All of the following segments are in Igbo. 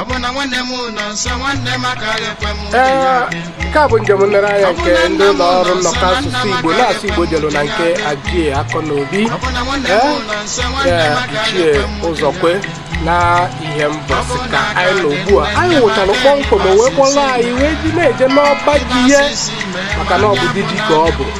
ọ bụ na nwanne m nọ nso nwanne m agaghị ekwe m uche ya ee dị mkpu. nke a bụ njem nlereanya nke ndị ụlọ ọrụ nnọkọ asụsụ igbo na-asụ igbo jelu na nke Ajie Akọnobi Ichie Ụzọkwe na Ihembọsị ka anyị nọ ugbu a anyị wụchara kpọmkwem o wee kpọrọ anyị wee ji na-eje n'ọba ji ya maka na ọ bụ di ji ka ọ bụ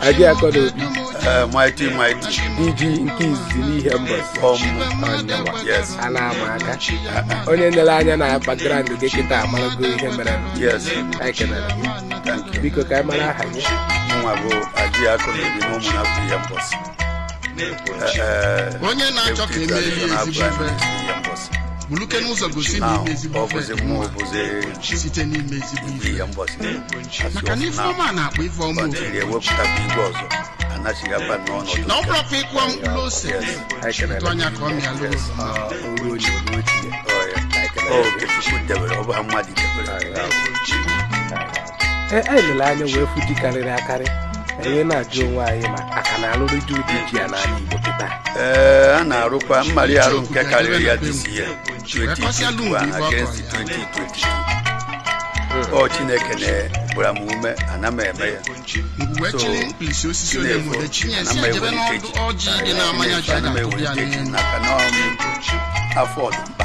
Ajie Akọnobi, Eh, mighty mighty di ji nke izizi n'Ihembọsị ọmụ Ọnyanwa, yes a na-ama aka onye nere anya na background gị kịta amarago ihe mere yes anyị kelere gị thank you biko ka anyị mara aha gị nwa bụ Ajie Akọnobi n'ụmụ na afọ Ihembọsị onye na-achọ ka e meelu ya ezigbo ife bulukene ụzọ gosi na ime ezigbo ife dị mma site n'ime ezigbo ife maka na ife ọma na-akpọ ife ọma ofufe na ọ bụrọkwa ị kụọ mkpụrụ ose tụ anya ka ọ mịalụ oroma ọ bụ ha mmadụ debere e, e lere anya wee fụ ji karịrị akarị anyị na-ajụ onwe anyị ma a ka na-alụdị ụdị ji a n'ala Igbo kịta ee a na-arụkwa mmalị arụ nke karịrị ya this year 2021 against 2022 ọ Chineke na-agbara m ume ana m eme ya so na-efu ana m ewere nkeji ana m ewere nkeji n'aka n'ọrụ afọ ọ dị mkpa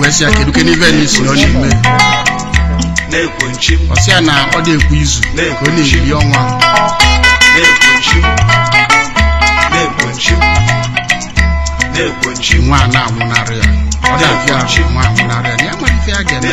wee sị ya kedukene ive na ị sị na ọ na-eme ọ sị ya na ọ dị ekwu izu ka ọ na-eri ọnwa nwa a na-anwụnarị ya ọ na-abịa ahụ nwa anwụnarị ya na ya nwere ife ya ga-eme